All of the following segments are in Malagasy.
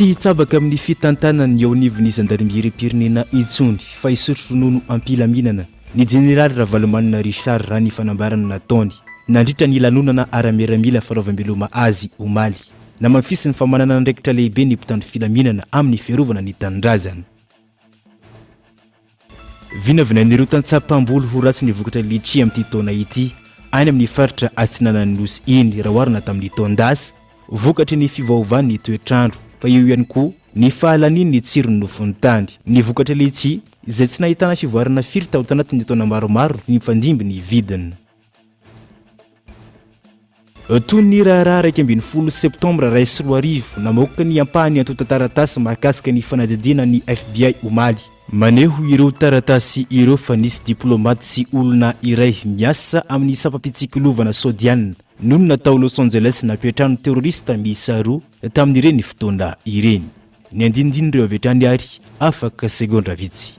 Tsy hitsabaka amin'ny fitantanany eo anivon'ny zandarimeriam-pirenena intsony fa hisotro ronono am-pilaminana ny jeneraly Ravalomanana Richard raha ny fanambarana nataony nandritra ny lanonana ara-miaramila fanaovam-beloma azy omaly. Namafisin'ny fa manana andraikitra lehibe ny mpitandro filaminana amin'ny fiarovana ny tanindrazana. Vinavinain'ireo tantsaha mpamboly ho ratsy ny vokatra litchi amin'ity taona ity any amin'ny faritra atsinanan'ny Nosy iny raha oharina tamin'ny taon-dasa, vokatry ny fiovaovan'ny toetr'andro, fa eo ihany koa ny fahalanian'ny tsiron'ny nofon'ny tany. Ny vokatra litchi izay tsy nahitana fivoarana firy tao tanatin'ny taona maromaro mifandimby ny vidiny. Toy ny raharaha iraika ambin'ny folo septambra iray sy roa arivo, namoaka ny ampahany antontan-taratasy mahakasika ny fanadihadiana ny FBI omaly. Maneho ireo taratasy ireo fa nisy diplaomaty sy olona iray miasa amin'ny sampam-pitsikilovana Saodiana nonina tao Los Angeles nampiantrano terorista miisa roa tamin'ireny fotoana ireny. Ny andinindin'ireo avy hatrany ary afaka segondra vitsy.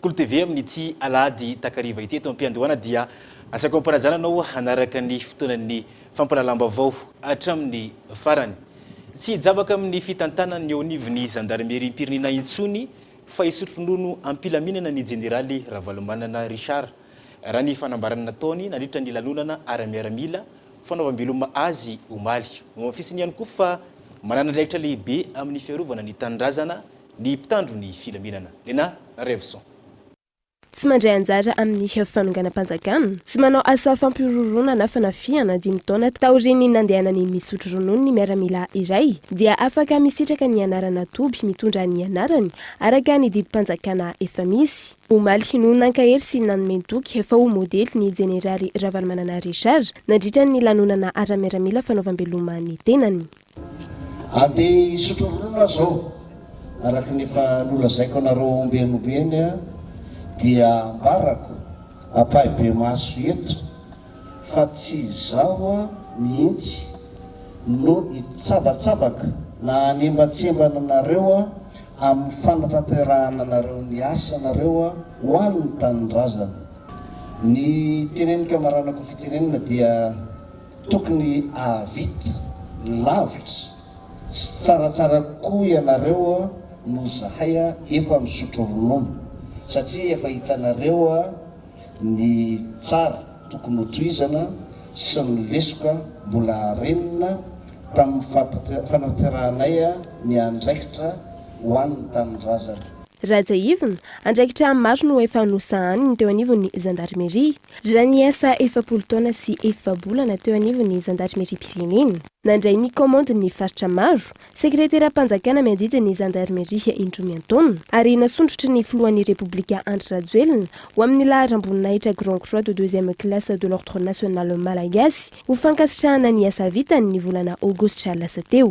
Kolo TV amin'ity alahady takariva ity eto am-piandohana dia asaiko ampanajana anao hanaraka ny fotoanan'ny fampahalalam-baovao hatramin'ny farany. Tsy hijabaka amin'ny fitantanan'ny eo anivon'ny zandarimeriam-pirenena intsony fa hisotro ronono am-pilaminana ny jeneraly Ravalomanana Richard, raha ny fanambarana nataony nandritra ny lanonana ara-miaramila fanaovam-beloma azy omaly. Nohamafisiny ihany koa fa manana andraikitra lehibe amin'ny fiarovana ny tanindrazana Ny mpitandro ny filaminana, Lena Revson. Tsy mandray anjara amin'ny fanonganam-panjakana, tsy manao asa fampihorohoroana na fanafihana dimy taona taorian'ny nandehanany misotro ronono ny miaramila iray dia afaka misitraka ny anarana toby mitondra ny anarany araka ny didim-panjakana efa misy. Omaly no nankahery sy nanome toky fa ho modely ny jeneraly Ravalomanana Richard nandritra ny lanonana ara-miaramila fanaovam-beloma ny tenany. Andeha hisotro ronono aho zao. Araka ny efa nolazaiko anareo ombieny ombieny dia ambarako ampahibemaso eto fa tsy izaho mihitsy no hitsabatsabaka na hanembatsembana anareo amin'ny fanatanterahana anareo ny asanareo ho an'ny tanindrazana. Ny teneniko amaranako fitenenana dia. Tokony ahavita lavitra sy tsaratsara kokoa ianareo noho zahay efa misotro ronono satria efa hitanareo ny tsara tokony ho tohizana sy ny lesoka mbola renina tamin'ny fanaterahanay ny andraikitra ho an'ny tanindrazana. Rajaivina, andraikitra maro no efa nosahaniny teo anivon'ny zandarimeria. Raha niasa efapolo taona sy efa-bolana teo anivon'ny zandarimeriam-pirenena, nandray ny kaomandin'ny faritra maro, sekreteram-panjakana miadidy ny zandarimeria indroa miantaona, ary nasondrotry ny filohan'ny Repoblika Andry Rajoelina ho amin'ny laharam-boninahitra Grand Croix de deuxième classe de l'Ordre national malagasy ho fankasitrahana ny asa vitany ny volana aogositra lasa teo.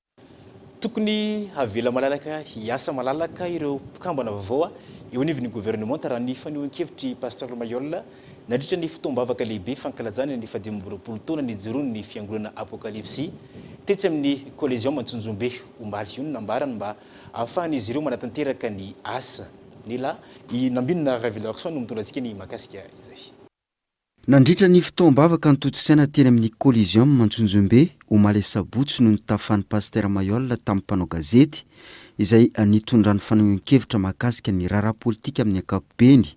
Tokony havela malalaka hiasa malalaka ireo mpikambana vaovao eo anivon'ny governemanta raha ny fanehoan-kevitr'i Pasteur Mailhol nandritra ny fotoam-bavaka lehibe fankalazana ny fahadimy amby roapolo taona nijoroan'ny fiangonana Apokalipsy tetsy amin'ny Coliseum Antsonjombe omaly. Io no nambarany mba hahafahan'izy ireo manatanteraka ny asa. Nila. I Nambinina Ravelarson no mitondra antsika ny mahakasika izay. Nandritra ny fotoam-bavaka notontosaina teny amin'ny Coliseum Antsonjombe, omaly asabotsy no nitafan'ny Pasitera Mailhol tamin'ny mpanao gazety, izay nitondrany fanehoan-kevitra mahakasika ny raharaha politika amin'ny ankapobeny,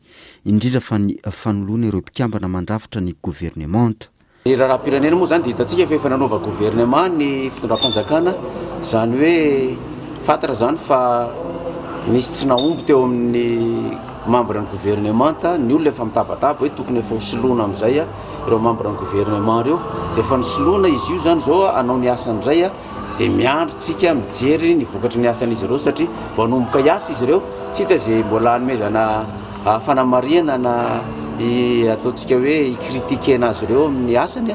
indrindra fa ny fanoloana ireo mpikambana mandrafitra ny governemanta. Ny raharaham-pirenena moa izany dia hitantsika fa efa nanova governemanta ny fitondram-panjakana, izany hoe fantatra izany fa nisy tsy nahomby teo amin'ny membre ny gouvernementa, ny olona efa mitabataba hoe tokony efa ho soloina amizay ireo membre ny gouvernement ireo, dia efa nosoloina izy io zany zao hanao ny asany indray dia miandry tsika mijery ny vokatry ny asan'izy ireo satria vao hanomboka hiasa izy ireo, tsy hita izay mbola hanomezana fanamarihana na ataontsika hoe i critiquena azy ireo amin'ny asany.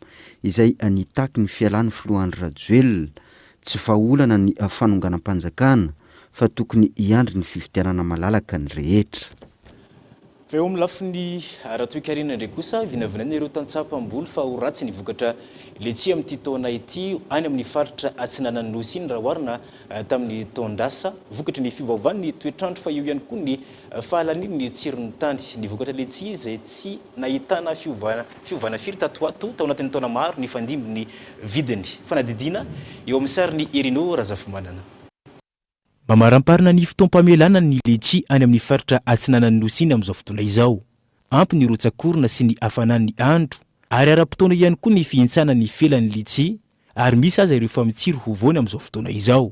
izay nitaky ny fialan'ny filoha Andry Rajoelina, tsy vahaolana ny fanonganam-panjakana fa tokony hiandry ny fifidianana malalaka ny rehetra. Fa eo amin'ny lafiny ara-toekarena indray kosa, vinavinaina ireo tantsaha mpamboly fa ho ratsy ny vokatra letchis amin'ity taona ity any amin'ny faritra atsinanan'ny Nosy iny raha oharina tamin'ny taon-dasa, vokatry ny fiovaovan'ny toetr'andro fa eo ihany koa ny fahalanian'ny tsiron'ny tany. Ny vokatra letchis izay tsy nahitana fiovana Tsy ovana firy tato ho ato, tao anatin'ny taona maro, nifandimby ny vidiny. Fanadihadiana eo amin'ny sarin'i Erino Razafimanana. Mamaramparana ny fotoam-pamelana ny letchi any amin'ny faritra atsinanan'ny Nosy iny amin'izao fotoana izao. Ampy ny rotsakorona sy ny hafanan'ny andro ary ara-potoana ihany koa ny fihintsanan'ny felan'ny letchi ary misy aza ireo famin-tsiro ho voany amin'izao fotoana izao.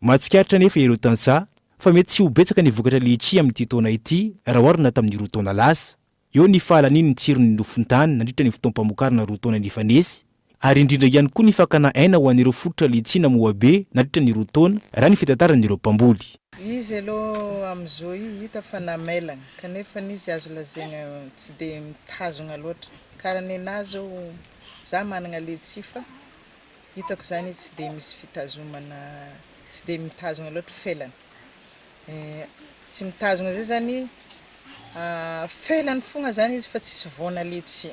Mahatsikaritra anefa ireo tantsaha fa mety tsy ho betsaka ny vokatra letchi amin'ity taona ity raha oharina tamin'ny roa taona lasa. Eo ny fahalaniany ny tsiron'ny nofon-tany nandritra ny fotoam-pamokarana roa taona nifanesy, ary indrindra ihany koa ny fakana aina ho an'ireo fototra litsiana moabe nandritra ny roa taona, raha ny fitantaran'ireo mpamboly. Izy aloha amin'i Zoe hita fa namelagna, kanefa izy azo lazaigna tsy dia mitazogna loatra. Kara nenaha zao, za managna letchie fa hitako zany izy tsy dia misy fitazomana, tsy dia mitazogna loatra felany. Tsy mitazona izay zany, felany fogna zany izy fa tsisy voana letsy.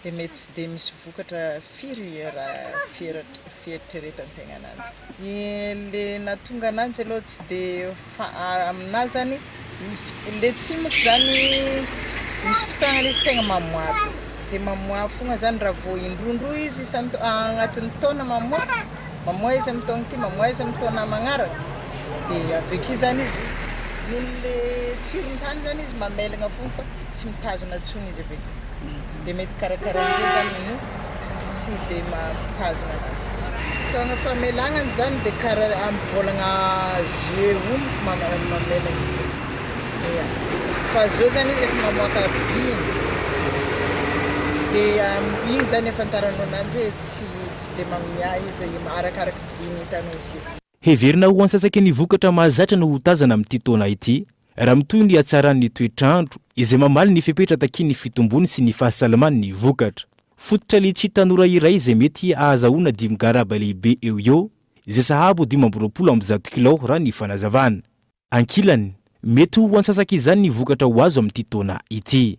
Dia mety tsy dia misy vokatra firy raha fieritreretan-tegna ananjy. Ny le nahatonga ananjy aloha tsy dia fa- aminahy zany Le tsimok zany misy fotoagnany izy tegna mamoa be dia mamoa fogna zany raha vao indroindroy izy isan-taona agnatin'ny taona mamoa, mamoa izy amin'ny taona ity mamoa izy amin'ny taona magnaraka dia avy akeo zany izy noho le tsirony tany zany izy mamelagna fogna fa tsy mitazona intsony izy avy akeo. Dia mety karakarain'izay izany no tsy dia mampitazona ananjy. Fotoana famelagna ny zany dia kara amim-bolagna jeux o mamela ny bolagna ia fa zao zany izy efa mamoaka viny dia iny zany ahafantaranao ananjy hoe tsy tsy dia magnomia izy arakaraka viny hitanao akeo. Heverina ho antsasaky ny vokatra mahazatra no ho tazana amin'ity taona ity, raha mitohy ny hatsaran'ny toetr'andro, izay mamaly ny fepetra takian'ny fitombony sy ny fahasalamany ny vokatra. Fototra litchi tanora iray izay mety ahazahoana dimy garaba lehibe eo eo, izay sahabo dimy amby roapolo amby zato kilao raha ny fanazavana. Ankilany, mety ho antsasak'izany ny vokatra ho azo amin'ity taona ity.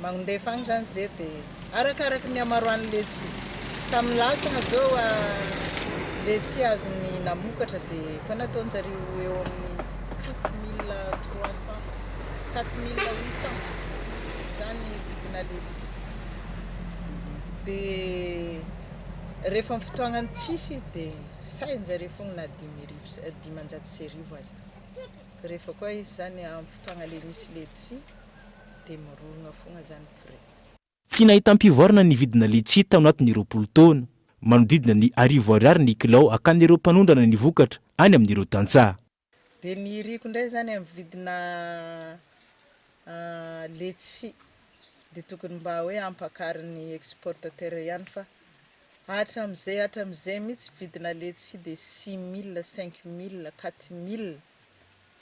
Magndefa agny zany ze de arakaraky ny hamaroan'ny letchi. Tamin'ny lasana zao a letchi azony namokatra de efa nataonjareo eo amin'ny quatre mille trois cent, quatre mille huit cent zany vidina letchi. De rehefa amin'ny fotoagnan'ny tsisy izy de sahinjareo fogna na dimy arivo sy dimanjato sy arivo aza. Rehefa koa izy zany amin'ny fotoagna le misy letchi dia mirorogna fogna zany prix. Tsy nahitam-pivoarana ny vidina litchi tao anatin'ny roapolo taona. Manodidina ny arivo ariary ny kilao hakan'ireo mpanondrana ny vokatra any amin'ireo tantsaha. Dia ny iriko indray izany amin'ny vidina letchi dia tokony mba hoe hampakarin'ny exportateur ihany fa hatramin'izay hatramin'izay mihitsy vidina letchi dia six mille, cinq mille, quatre mille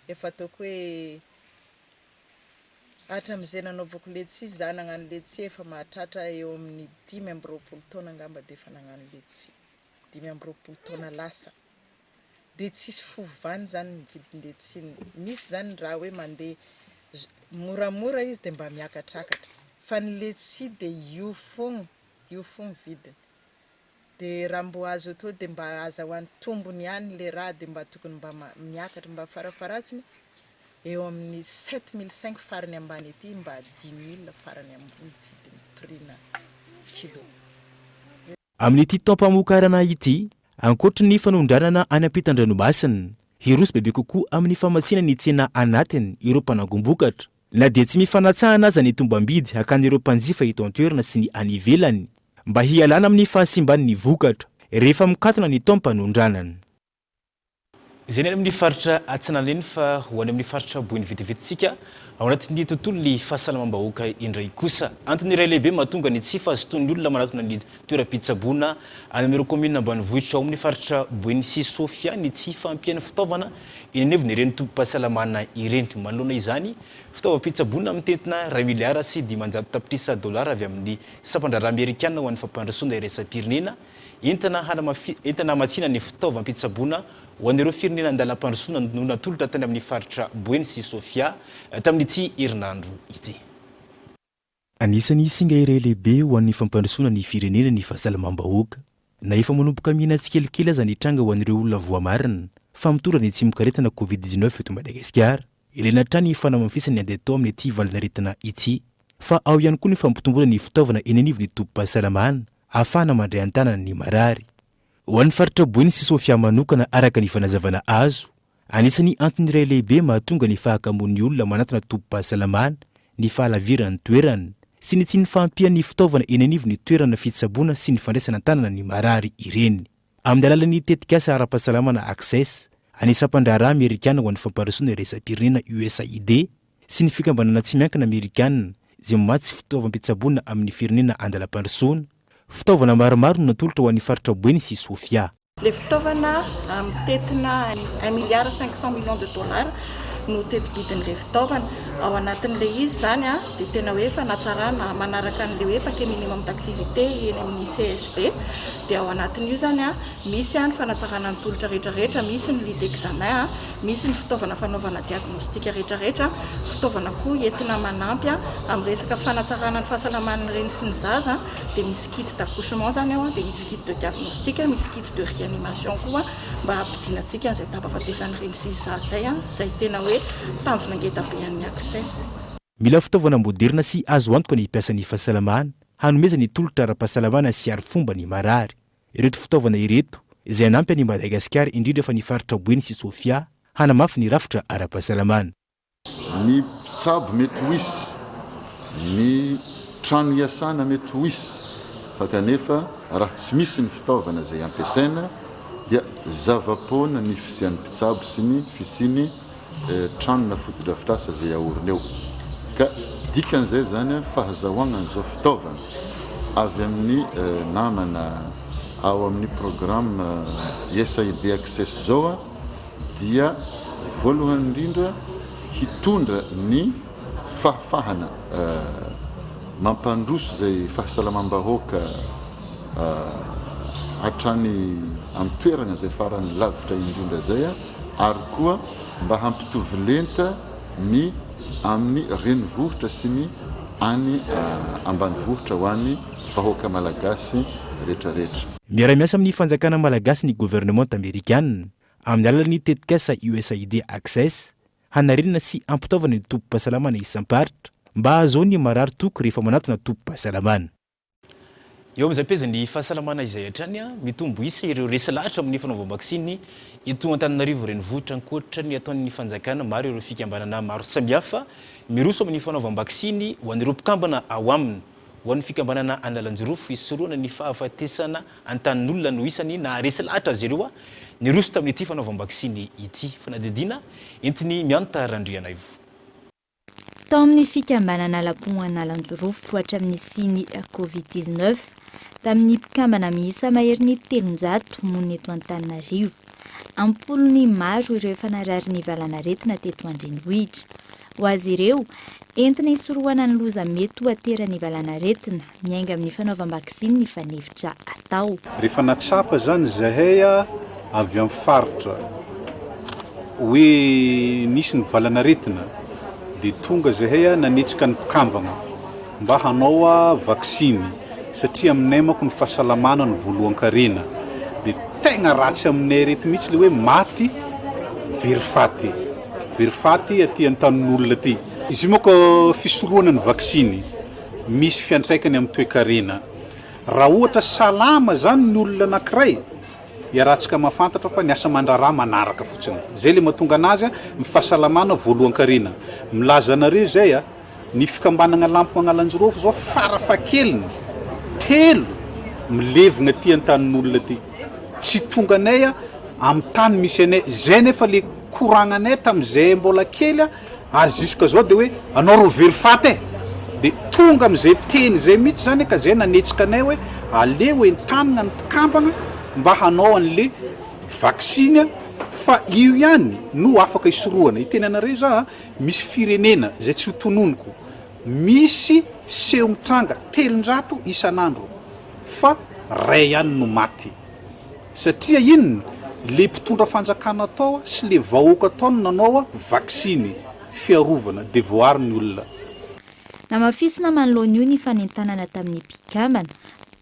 efa ataoko hoe Hatramin'izay nanaovako letchi za nagnano letchi efa mahatratra eo amin'ny dimy amby roapolo taona angamba de efa nagnano letchi, dimy amby roapolo taona lasa de tsisy fovany zany ny vidin-letchi, misy zany raha hoe mande moramora izy de mba miakatrakatra fa ny letchi de io fogna io fogna vidiny. De raha mbo azo atao de mba azahoany tombony ihany le raha de mba tokony mba miakatra mba farafaratsiny eo amin'ny sept mille cinq farany ambany aty mba dimy mille farany ambony vidin'ny prix na kilo. Amin'ity taom-pamokarana ity, ankoatry ny fanondranana any ampitan-dranomasina, hiroso bebe kokoa amin'ny famatsiana ny tsena anatiny ireo mpanangom-bokatra. Na dia tsy mifanatsahana aza ny tombam-bidy hakan'ireo mpanjifa eto an-toerana sy ny any ivelany, mba hialana amin'ny fahasimban'ny vokatra rehefa mikatona ny taom-panondranana. Izay ny any amin'ny faritra Atsinanana eny fa ho any amin'ny faritra Boeny vetivetintsika ao anatin'ny tontolon'ny fahasalamam-bahoaka indray kosa. Antony iray lehibe mahatonga ny tsy fahazotoan'ny olona manatona ny Toeram-pitsaboana any amin'ireo kaominina ambanivohitra ao amin'ny faritra Boeny sy Sofia ny tsy fahampian'ny fitaovana eny anivon'ireny tobim-pahasalamana ireny. Manoloana izany, fitaovam-pitsaboana mitentina iray miliara sy dimanjato tapitrisa dolara avy amin'ny Sampan-draharaha Amerikana ho an'ny Fampandrosoana Iraisam-pirenena entina hanamafisana entina hamatsiana ny fitaovam-pitsaboana ho an'ireo firenena an-dalam-pandrosoana no natolotra tany amin'ny faritra Boeny sy Sofia tamin'ity herinandro ity. Anisan'ny singa iray lehibe ho an'ny fampandrosoana ny firenena ny fahasalamam-bahoaka. Na efa manomboka mihena tsikelikely aza ny tranga ho an'ireo olona voamarina fa mitondra ny tsimokaretina Covid dix neuf eto Madagasikara, ilaina hatrany ny fanamafisana ny ady atao amin'ity valanaretina ity. Fa ao ihany koa ny fampitomboana ny fitaovana eny anivon'ny tobim-pahasalamana ahafahana mandray an-tanana ny marary. Ho an'ny faritra Boeny sy Sofia manokana araka ny fanazavana azo Anisan'ny antony iray lehibe mahatonga ny fahakamoan'ny olona manantona tobim-pahasalamana ny fahalaviran'ny toerana sy ny tsy ny fahampian'ny fitaovana eny anivon'ny toerana fitsaboana sy ny fandraisana an-tanana ny marary ireny amin'ny alalan'ny tetikasa ara-pahasalamana Access an'ny Sampandraharaha Amerikana ho an'ny Fampandrosoana Iraisam-pirenena, USAID, sy ny Fikambanana Tsy Miankina Amerikana izay mamatsy fitaovam-pitsaboana amin'ny firenena an-dalam-pandrosoana. Fitaovana maromaro no natolotra ho an'ny faritra Buen sy Sofia. Ilay fitaovana mitentina un milliard cinq cent millions de dollars no teti-bidin'ilay fitaovana. Ao anatin'ilay izy izany dia tena hoe fanatsarana manaraka an'ilay hoe paquet minimum d'activité eny amin'ny CSB. Dia ao anatin'io izany misy ny fanatsarana ny tolotra rehetrarehetra, misy ny lit d'examen, misy ny fitaovana fanaovana diagnostic rehetrarehetra, fitaovana koa entina manampy amin'ny resaka fanatsarana ny fahasalaman'ny reny sy ny zaza. dia misy kit d'accouchement izany ao, dia misy kit de diagnostic, misy kit de réanimation koa mba hampidina antsika an'izay tapahafatesan'ireny sizy zaza izay, izay tena hoe tanjona ngeda be an'ny Access. Mila fitaovana moderina sy azo antoka ny mpiasan'ny fahasalamana hanomezany ny tolotra ara-pahasalamana sy arifomba ny marary. Ireto fitaovana ireto izay hanampy an'i Madagasikara indrindra fa ny faritra Boeny sy Sofia hanamafy ny rafitra ara-pahasalamana. Ny mpitsabo mety ho hisy, ny trano hiasana mety ho hisy fa kanefa raha tsy misy ny fitaovana izay ampiasaina dia zava-poana ny fisian'ny mpitsabo sy ny fisian'ny tranona fotodrafitrasa izay aorina eo ka dikan'izay izany fahazahoagnan'izao fitaovana avy amin'ny namana ao amin'ny programme USAID Access izao dia voalohany indrindra hitondra ny fahafahana mampandroso izay fahasalamam-bahoaka hatrany an-toerana izay farany lavitra indrindra izay ary koa mba hampitovy lenta ny amin'ny renivohitra sy ny any ambanivohitra ho an'ny vahoaka malagasy rehetrarehetra. Miara-miasa amin'ny fanjakana malagasy ny governemanta amerikanina. amin'ny alalan'ny tetikasa USAID Access, hanarenana sy hampitaovana ny tobim-pahasalamana isam-paritra mba hahazoan'ny marary toky rehefa manatona tobim-pahasalamana. Eo amin'izay pejy ny fahasalamana izay hatrany mitombo isa ireo resy lahatra amin'ny fanaovam-baksiny eto Antananarivo Renivohitra. Ankoatra ny ataon'ny fanjakana, maro ireo fikambanana maro samihafa miroso amin'ny fanaovam-baksiny ho an'ireo mpikambana ao aminy. Ho an'ny fikambanana Analanjirofo, hisorohana ny fahafatesana Antanin'olona no isany naharesy lahatra azy ireo niroso tamin'ity fanaovam-baksiny ity. Fanadihadiana entin'i Mianta Randrianaivo. Tao amin'ny fikambanana Lapon Analanjirofo ho hatramin'ny nisian'ny Covid dix neuf, tamin'ny mpikambana miisa maherin'ny telonjato monina eto Antananarivo, am-polony maro ireo efa narary ny valanaretina teto an-drenivohitra. Ho azy ireo, entina hisorohana ny loza mety ho ateran'ny valanaretina, Miainga amin'ny fanaovam-baksiny ny fanefitra atao. Rehefa nahatsapa izany izahay avy amin'ny faritra hoe nisy ny valan'aretina dia tonga izahay nanetsika ny mpikambana mba hanao vaksiny satria aminay manko ny fahasalamana no voalohan-karena dia tegna ratsy aminay ireto mihitsy ilay hoe maty very faty, very faty aty an-tanin'olona aty. Izy io manko fisorohana ny vaksiny. misy fiantraikany amin'ny toekarena. Raha ohatra salama izany ny olona anankiray, iarahantsika mahafantatra fa ny asa aman-draharaha manaraka fotsiny. Izay ilay mahatonga anazy ny fahasalamana voalohan-karena. Milaza anareo izay a! Ny fikambanagna Lampy Magnalanjirofo izao fara fahakeliny telo milevina aty an-tanin'olona aty. Tsy tonganay amin'ny tany misy anay. Izay anefa ilay koragnanay tamin'izay mbola kely. Ary jusque zao de hoe anao ro very faty e! de tonga amizay teny zay mitsy zany ka zay nanetsika anay hoe aleo entanina ny mpikambana mba hanao anle vaksiny fa io ihany no afaka hisorohana, hiteny anareo za a, misy firenena zay tsy ho tononiko misy seho mitranga telonjato isanandro fa ray ihany no maty. Satria inona? Le mpitondra fanjakana tao sy le vahoaka tao no nanao vaksiny fiarovana de voaaro ny olona. Namafisina manoloana io ny fanentanana tamin'ny mpikambana,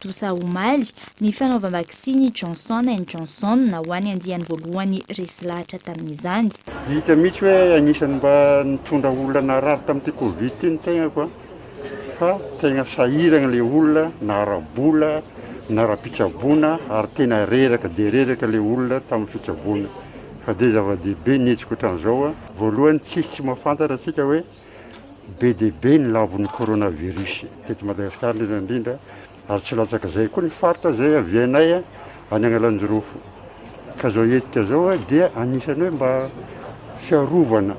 Dosa omaly, ny fanaovam-baksiny Johnson and Johnson ho an'ny andiany voalohany resy lahatra tamin'izany. Hita mihitsy hoe anisan'ny mba nitondra olona narary tamin'ity Covid ity ny tegnako an! fa tena sahiragna le olona na ara-bola na ara-pitsaboana ary tena reraka dia reraka le olona tamin'ny fitsaboana fa dia zava-dehibe ny hetsika ohatran'izao a! Voalohany tsisy tsy mahafantatra antsika hoe be dia be ny lavon'ny coronavirus teto Madagasikara indrindra indrindra, Ary tsy latsaka izay koa ny faritra izay avianay any Analanjirofo. Ka izao hetsika izao dia anisan'ny hoe mba fiarovana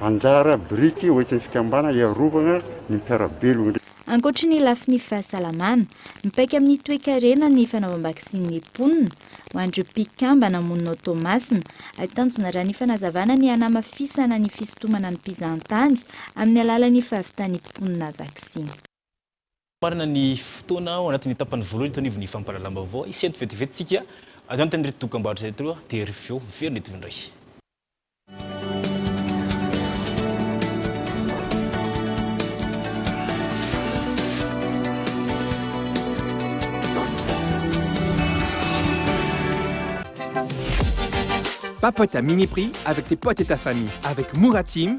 anjara biriky ho entin'ny fikambanana hiarovana ny mpiara-belona. Ankoatry ny lafiny fahasalamana, mipaika amin'ny toekarena ny fanaovam-baksin'ny mponina ho an'ireo mpikambana monina ao Toamasina, ary tanjona raha ny fanazavana ny hanamafisana ny fisintomana ny mpizahantany amin'ny alalan'ny fahavitan'ny mponina vaksiny. Marina ny fotoana ao anatin'ny tapany voalohany eto anivon'ny fampahalalam-baovao. Hisy eto vetivety isika avy any tamin'ireto dokam-barotra ireto dia ry feo miverina eto indray. Papota Miniprix avec tes potes et ta famille avec Mora Team.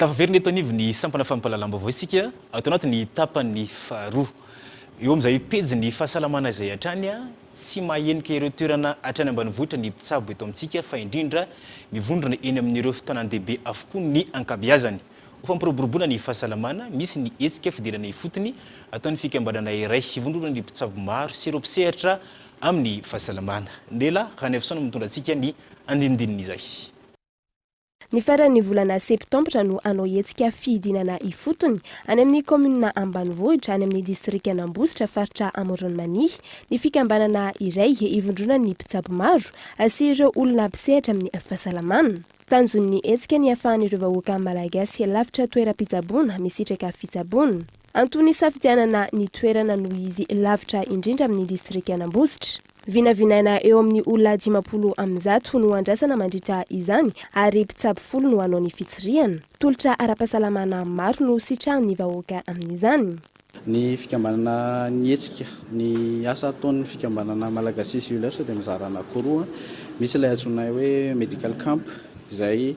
Tafaverina eto anivon'ny sampana fampahalalam-baovao isika ato anatin'ny tapany faharoa. Eo amin'izay pejin'ny fahasalamana izay hatrany tsy mahahenika ireo toerana hatrany ambanivohitra ny mpitsabo eto amintsika fa indrindra mivondrona eny amin'ireo tanàn-dehibe avokoa ny ankabeazany. Ho fampiroboroboana ny fahasalamana, misy ny hetsika fidirana ifotony ataon'ny fikambanana iray hivondrona ny mpitsabo maro sy ireo mpisehatra amin'ny fahasalamana. Nela Ranaivoson no mitondra antsika ny andinindin'izay. Ny faran'ny volana septambra no hanao hetsika fidinana ifotony any amin'ny kaominina ambanivohitra any amin'ny distrikan'Ambositra faritra Amoron'i Mania ny fikambanana iray hivondronan'ny mpitsabo maro sy ireo olona mpisehatra amin'ny fahasalamana. Tanjon'ny hetsika ny hiafahan'ireo vahoaka Malagasy lavitra toeram-pitsaboana misitraka fitsaboana. Antony hisafidianana ny toerana noho izy lavitra indrindra amin'ny distrikan'Ambositra. Vinavinaina eo amin'ny olona dimampolo amin'ny zato no andrasana mandritra izany ary mpitsabo folo no hanao ny fitsirihana. Tolotra ara-pahasalamana maro no sitrahan'ny vahoaka amin'izany. Ny fikambanana Ny Hetsika. Ny asa ataon'ny fikambanana Malagasy Jewelers dia mizara anankiroa. Misy ilay antsoinay hoe Medical Camp izay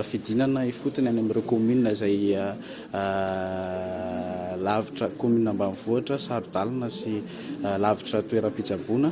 fidinana ifotony any amin'ireo communes izay lavitra, communes ambanivohitra, saro-dalana sy lavitra toeram-pitsaboana.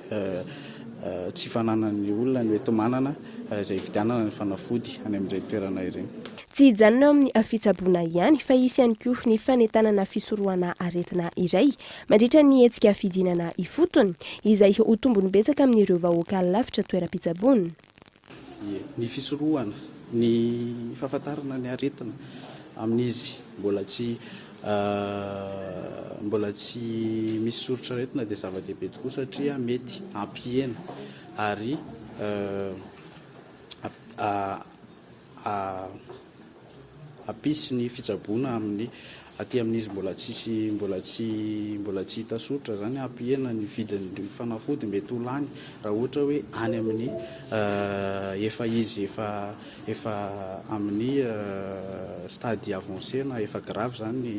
tsy fananan'ny olona ny hoe tomanana izay hividianana ny fanafody any amin'ireny toerana ireny. Tsy hijanona eo amin'ny fitsaboana ihany fa hisy ihany koa ny fanentanana fisorohana aretina iray mandritra ny hetsika fidinana ifotony izay ho tombony betsaka amin'ireo vahoaka lavitra toeram-pitsaboana. ie. Ny fisorohana ny fahafantarana ny aretina amin'izy mbola tsy mbola tsy misy soritr'aretina dia zava-dehibe tokoa satria mety hampihena ary Hampisy ny fitsaboana amin'ny aty amin'izy mbola tsisy mbola tsy mbola tsy hita soritra izany hampihena ny vidin'ny fanafody mety ho lany raha ohatra hoe any amin'ny efa izy efa efa amin'ny stade avancé na efa grave izany ny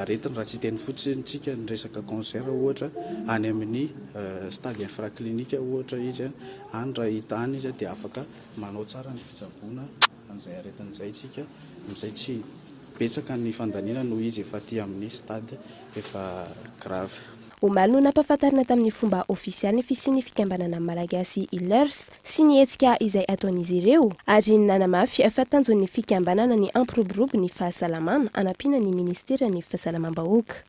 aretiny raha tsy hiteny fotsiny tsika ny resaka cancer ohatra any amin'ny stade infraclinique ohatra izy any raha hita any izy dia afaka Manao tsara ny fitsaboana an'izay aretina izay isika amin'izay tsy betsaka ny fandaniana noho izy efa aty amin'ny stade efa grave. Omaly no nampahafantarina tamin'ny fomba ofisialy ny fisian'ny fikambanana Malagasy Healers sy ny hetsika izay ataon'izy ireo ary nanamafy fa tanjon'ny fikambanana ny hampiroborobo ny fahasalamana hanampiana ny ministeran'ny fahasalamam-bahoaka.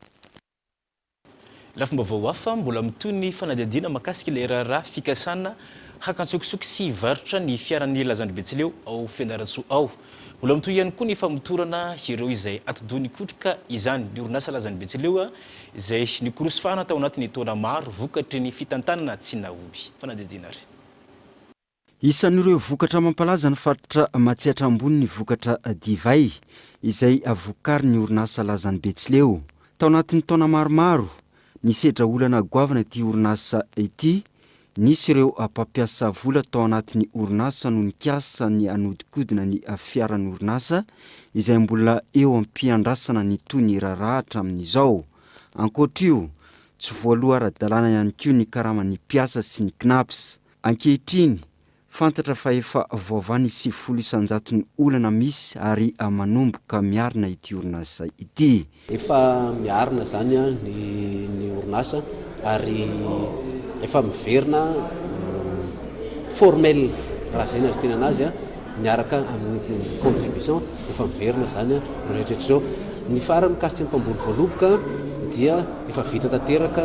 Lafim-baovao hafa mbola mitohy ny fanadihadiana mahakasika ilay raharaha fikasana haka an-tsokosoko sy hivarotra ny fiaran'ny Lazandry Betsileo ao Fianarantsoa ao. Mbola mitohy ihany koa ny famotorana ireo izay atidoha nikotroka izany ny orinasa Lazandry Betsileo izay nikorosofana tao anatin'ny taona maro vokatry ny fitantanana tsy nahomby. Fanadihadiana ary. Isan'ireo vokatra mampalaza ny faritra Matsiatra Ambony ny vokatra divay izay vokarin'ny orinasa Lazan'i Betsileo. Tao anatin'ny taona maromaro, nisedra olana goavana ity orinasa ity. Nisy ireo mpampiasa vola tao anatin'ny orinasa no nikasa ny hanodinkodina ny fiaran'ny orinasa, izay mbola eo am-piandrasana ny toy ny raharaha hatramin'izao. Ankoatr'io, tsy voaloha ara-dalàna ihany koa ny karaman'ny mpiasa sy ny Cnaps. Ankehitriny, fantatra fa efa voavaha ny sivifolo isan-jaton'ny olana misy ary manomboka miarina ity orinasa ity. Efa miarina izany ny orinasa ary efa miverina formel raha izay no azo itenana azy miaraka amin'ny contribution, efa miverina izany rehetra rehetra izao. Ny farany mikasika ny mpamboly voaloboka dia efa vita tanteraka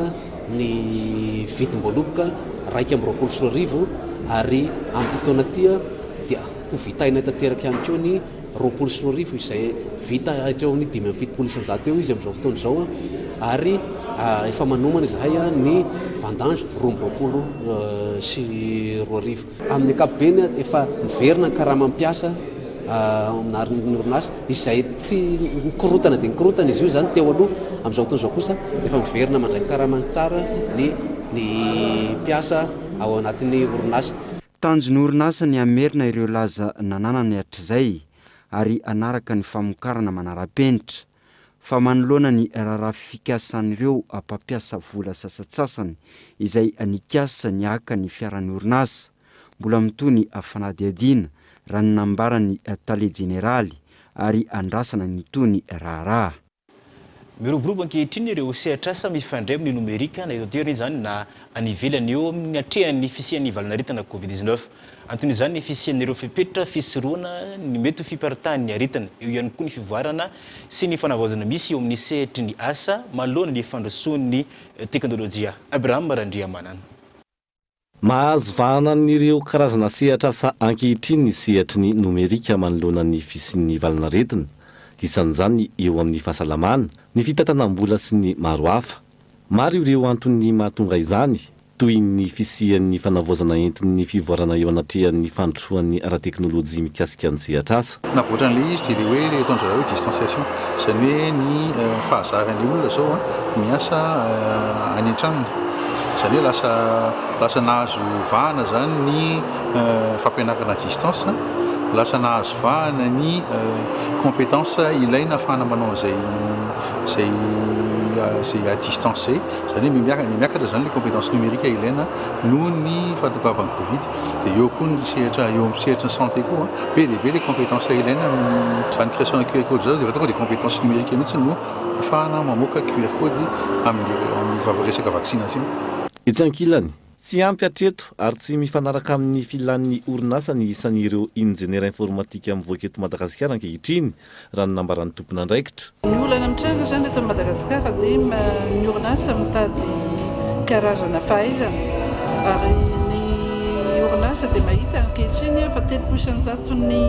ny vidim-boaloboka iraika amby roapolo sy roa arivo ary amin'ity taona ity dia ho vitainay tanteraka ihany koa ny roapolo sy roa arivo izay vita hatreo amin'ny dimy amby fitopolo isanjato eo izy amin'izao fotoana izao ary efa manomana izahay ny vendange roa amby roapolo sy roa arivo. Amin'ny ankapobeny, efa miverina ny karamam-piasa ao amin'ny arn'ny orinasa, izay tsy nikorotana dia nikorotana izy io izany teo aloha. Amin'izao fotoana izao kosa, efa miverina mandray ny karamany tsara ny ny mpiasa ao anatin'ny orinasa. Tanjon'ny orinasa ny hamerina ireo laza nananany hatrizay ary hanaraka ny famokarana manara-penitra. fa manoloana ny raharaha fikasan'ireo mpampiasa vola sasatsasany izay nikasa ny haka ny fiaran'ny orinasa, mbola mitohy ny fanadihadiana, raha ny nambaran'ny tale jeneraly, ary andrasana ny toa ny raharaha. Miroborobo ankehitriny ireo sehatr'asa mifandray amin'ny nomerika, na eto an-toerana izany na any ivelany, eo amin'ny atrehan'ny fisian'ny valonaretina Covid dix-neuf. Anton'izany ny fisian'ireo fepetra fisorohana ny mety ho fiparitahan'ny aretina, eo ihany koa ny fivoarana sy ny fanavaozana misy eo amin'ny sehatry ny asa manoloana ny fandrosoan'ny teknolojia. Abraham Randriamanana. Mahazo vahana amin'ireo karazana sehatr'asa ankehitriny ny sehatry ny nomerika manoloana ny fisian'ny valan'aretina, isan'izany ny eo amin'ny fahasalamana, ny fitantanam-bola sy ny maro hafa. Maro ireo antony mahatonga izany, toy ny fisian'ny fanavaozana entin'ny fivoarana eo anatrehan'ny fandrosoan'ny ara-teknolojia mikasika ny sehatr'asa. Navoatra an'ilay izy dia ilay hoe ilay ataon-dry zareo hoe distanciation, izany hoe ny fahazaran'ny olona izao miasa any an-tranony. Izany hoe lasa lasa nahazo vahana izany ny fampianarana à distance, lasa nahazo vahana ny compétence ilaina ahafahana manao an'izay izay izay à distance izay, izany hoe miha- miakatra izany ilay compétence numérique ilaina noho ny fahatongavan'ny covid, dia eo koa ny sehatra eo amin'ny sehatry ny santé koa an, be dia be ilay compétence ilaina amin'ny izany création-na QR code izany, dia efa tonga dia compétence numérique mihitsy no ahafahana mamoaka QR code amin'ny amin'ny resaka vaccination. Etsy ankilany, Tsy ampy hatreto ary tsy mifanaraka amin'ny filan'ny orinasa ny isan'ireo injeniera informatika mivoaka eto Madagasikara ankehitriny, raha ny nambaran'ny tompon'andraikitra. Ny olana mitranga izany eto Madagasikara dia ny orinasa mitady karazana fahaizana ary ny orinasa dia mahita ankehitriny fa telopolo isan-jaton'ny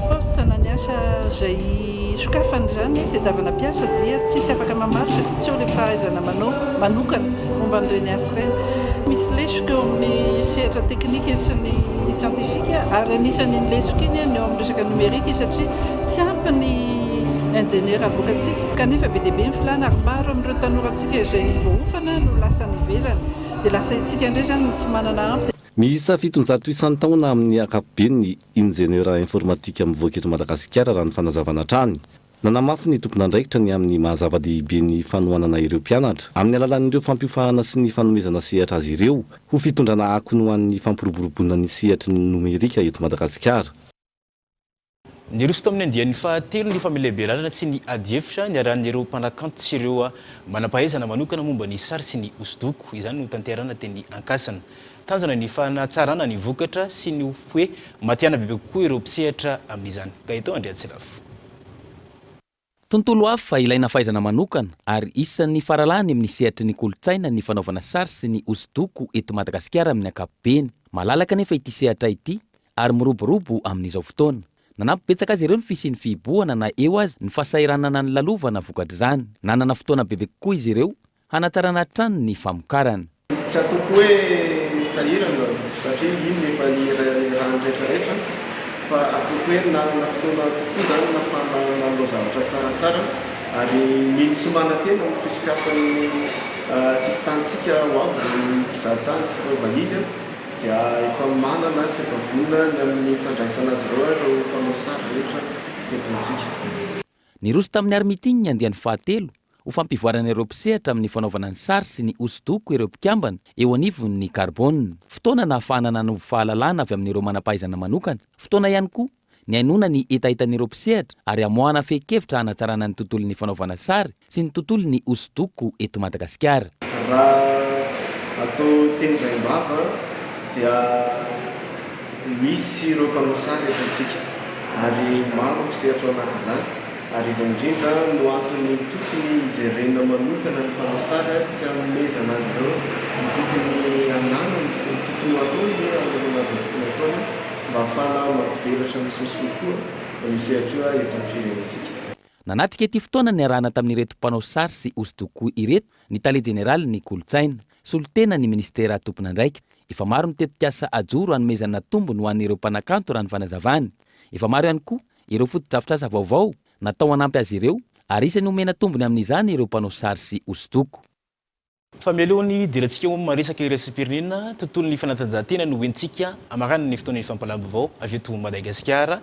postes na ny asa izay Ny sokafan'izany tediavana mpiasa dia tsisy afaka mamaly satria tsy eo ilay fahaizana manao manokana momba an'ireny asa ireny. Misy lesoka eo amin'ny sehatra teknika sy ny siantifika ary anisan' iny lesoka iny ny eo amin'ny resaka nomerika satria tsy ampy ny injeniera avoakantsika kanefa be dia be ny filàna ary maro amin'ireo tanorantsika izay voaofana no lasa any ivelany dia lasa itsika indray izany no tsy manana ampy. Miisa fitonjato isan-taona amin'ny ankapobeny ny. Injeniera informatika mivoaka eto Madagasikara raha ny fanazavana hatrany. Nanamafy ny tompon'andraikitra ny amin'ny maha zava-dehibe ny fanohanana ireo mpianatra, amin'ny alalan'ireo fampiofahana sy ny fanomezana sehatra azy ireo ho fitondrana akony ho an'ny fampiroboroboana ny sehatry ny nomerika eto Madagasikara. Niroso tamin'ny andiany fahatelo ny famelabelarana sy ny adihevitra niarahan'ireo mpanakanto sy ireo manam-pahaizana manokana momba ny sary sy ny hosodoko. Izany no tanterahina teny Ankasina. Tanjona ny fanatsarana ny vokatra sy ny hoe matihanina bebe kokoa ireo mpisehatra amin'izany. Gaëtan Andriantsilafo. Tontolo hafa ilaina fahaizana manokana ary isan'ny faralahany amin'ny sehatry ny kolontsaina ny fanaovana sary sy ny hosodoko eto Madagasikara amin'ny ankapobeny. Malalaka anefa ity sehatra ity ary miroborobo amin'izao fotoana. Nanampy betsaka azy ireo ny fisian'ny fihibohana na eo aza ny fahasahiranana nilalovana vokatr'izany. Nanana fotoana bebe kokoa izy ireo hanatarana hatrany ny famokarana. Tsy ataoko hoe sahirana satria iny efa ny rariny rehetrarehetra fa ataoko hoe nanana fotoana kokoa izany nahafahana nanao zavatra tsaratsara ary mino sy manantena amin'ny fisokafan'ny sisin-tanintsika ho avy ny mpizahatany sy ireo vahiny dia efa manana sy efa vonona ny amin'ny fandraisana azy ireo ireo mpanao sary rehetra eto amintsika. Niroso tamin'ny art meeting ny andiany fahatelo ho fampivoarana ireo mpisehatra amin'ny fanaovana ny sary sy ny hosodoko ireo mpikambana eo anivon'ny Carbone. Fotoana nahafahana nanovo fahalalana avy amin'ireo manam-pahaizana manokana, fotoana ihany koa nihainoana ny hetahetan'ireo mpisehatra ary hamoahana fehin-kevitra hanatsarana ny tontolon'ny fanaovana sary Tsy ny tontolo ny hosodoko eto Madagasikara. Raha atao teny vaim-bava dia misy ireo mpanao sary eto amintsika ary maro ny mpisehatra ao anatin'izany ary izay indrindra no antony tokony hijerena manokana ny mpanao sary sy hanomezana azy ireo ny tokony hananany sy ny tokony hataony hoe hanorina azy ny tokony hataony mba hahafahana mampivelatra misimisy kokoa io sehatra io eto amin'ny firenentsika. Nanatrika ity fotoana niarahana tamin'ireto mpanao sary sy hosodoko ireto ny tale jeneralin'ny kolontsaina, solontenan'ny minisitera tompon'andraikitra. Efa maro ny tetikasa ajoro hanomezana tombony ho an'ireo mpanakanto raha ny fanazavany. Efa maro ihany koa ireo fotodrafitrasa vaovao natao hanampy azy ireo ary isan'ny homena tombony amin'izany ireo mpanao sary sy hosodoko. Fa mialoha ny hidirantsika ho miresaka iraisam-pirenena, tontolon'ny fanatanjahantena no hoentintsika amarana ny fotoanan'ny fampahalalam-baovao avy eto Madagasikara.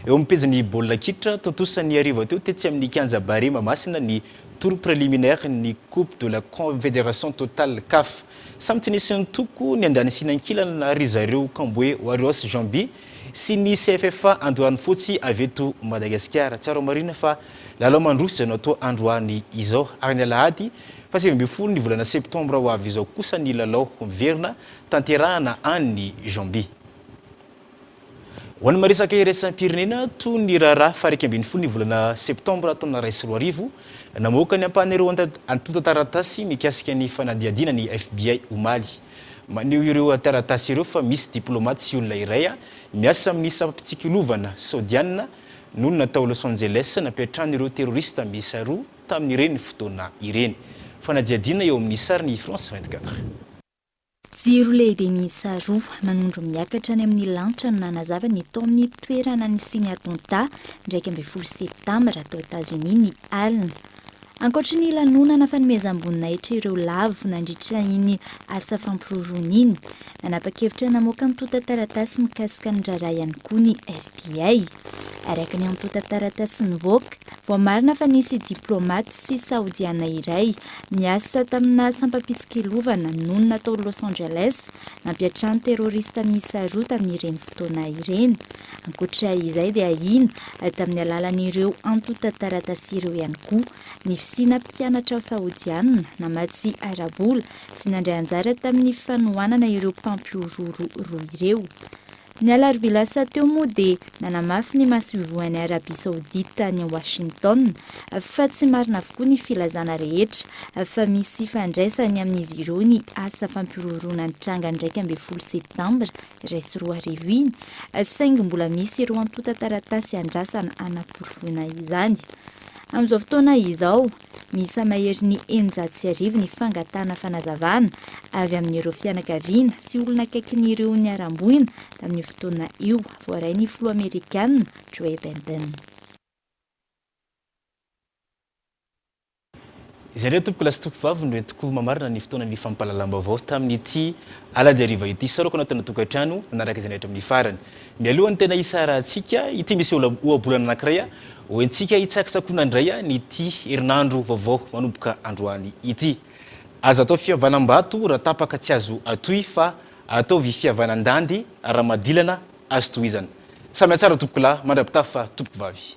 Eo amin'ny pejin'ny baolina kitra, tontosa ny hariva teo tetsy amin'ny kianja Barea Mahamasina ny tour préliminaire ny Coupe de la Confédération Total Caf. Samy tsy nisy nitoko ny andaniny sy ny ankilany na ry zareo Camboe Warriors Jambi sy ny CFFA Andoharanofotsy avy eto Madagasikara. Tsaraho marina fa lalao mandroso izay no atao androany izao ary ny alahady Fahasivy ambin'ny folo ny volana septambra ho avy izao kosa ny lalao miverina tanterahana any Zambia. Ho an'ny maresaka iraisam-pirenena, toy ny raharaha faharaika ambin'ny folo ny volana septambra taona iray sy roa arivo, namoaka ny ampahan'ireo antontan-taratasy mikasika ny fanadihadiana ny FBI omaly. Maneho ireo taratasy ireo fa misy diplaomaty sy olona iray miasa amin'ny sampam-pitsikilovana Saodiana no natao Los Angeles nampiantrano ireo terorista miisa roa tamin'ireny fotoana ireny. Fanadihadiana eo amin'ny sarin'i France vingt quatre. Jiro lehibe miisa roa manondro miakatra any amin'ny lanitra no nanazava ny tao amin'ny toerana nisian'ny attentat iraika ambin'ny folo septambra tao Etazonia ny alina. Ankoatry ny lanonana fanomezam-boninahitra ireo lavo nandritra iny asa fampiroroana iny, nanapa-kevitra namoaka antontan-taratasy mikasika ny raharaha ihany koa ny FBI. Araka ny antontan-taratasy nivoaka, Voamarina fa nisy diplomaty sy Saodiana iray niasa tamina sampam-pitsikilovana nonina tao Los Angeles nampiantrano terorista miisa roa tamin'ireny fotoana ireny. Ankoatra izay dia ahiana tamin'ny alalan'ireo antontan-taratasy ireo ihany koa ny fisiana mpianatra Saodiana namatsy ara-bola sy nandray anjara tamin'ny fanohanana ireo mpampihorohoro roa ireo. Ny alarobia lasa teo moa dia nanamafy ny masoivohon'i Arabia Saodita any Washington fa tsy marina avokoa ny filazana rehetra fa misy ifandraisany amin'izy ireo ny asa fampihorohoroana nitranga ny iraika ambin'ny folo Septambra iray sy roa arivo iny, saingy mbola misy ireo antontan-taratasy iandrasana hanaporofoana izany. Amin'izao fotoana izao. Miisa maherin'ny eninjato sy arivo ny fangatahana fanazavana avy amin'ireo fianakaviana sy olona akaikin'ireo niharam-boina tamin'io fotoana io, voaray ny filoha amerikana Joe Biden. Izay indray tompokolahy sy tompovavy no entiko mamarana ny fotoanan'ny fampahalalam-baovao tamin'ity alahady hariva ity. Saorako anao tena tokantrano nanaraka izay nahitra amin'ny farany. Mialoha ny tena hisarahantsika, ity misy ohabolana anankiray hoentintsika hitsakotsakoana indray an'ity herinandro vaovao manomboka androany ity. Aza atao fihavanam-bato raha tapaka tsy azo atohy fa ataovy fihavanandandy raha madilana azo tohizana. Samia tsara tompokolahy mandra-pitafa fa tompokovavy.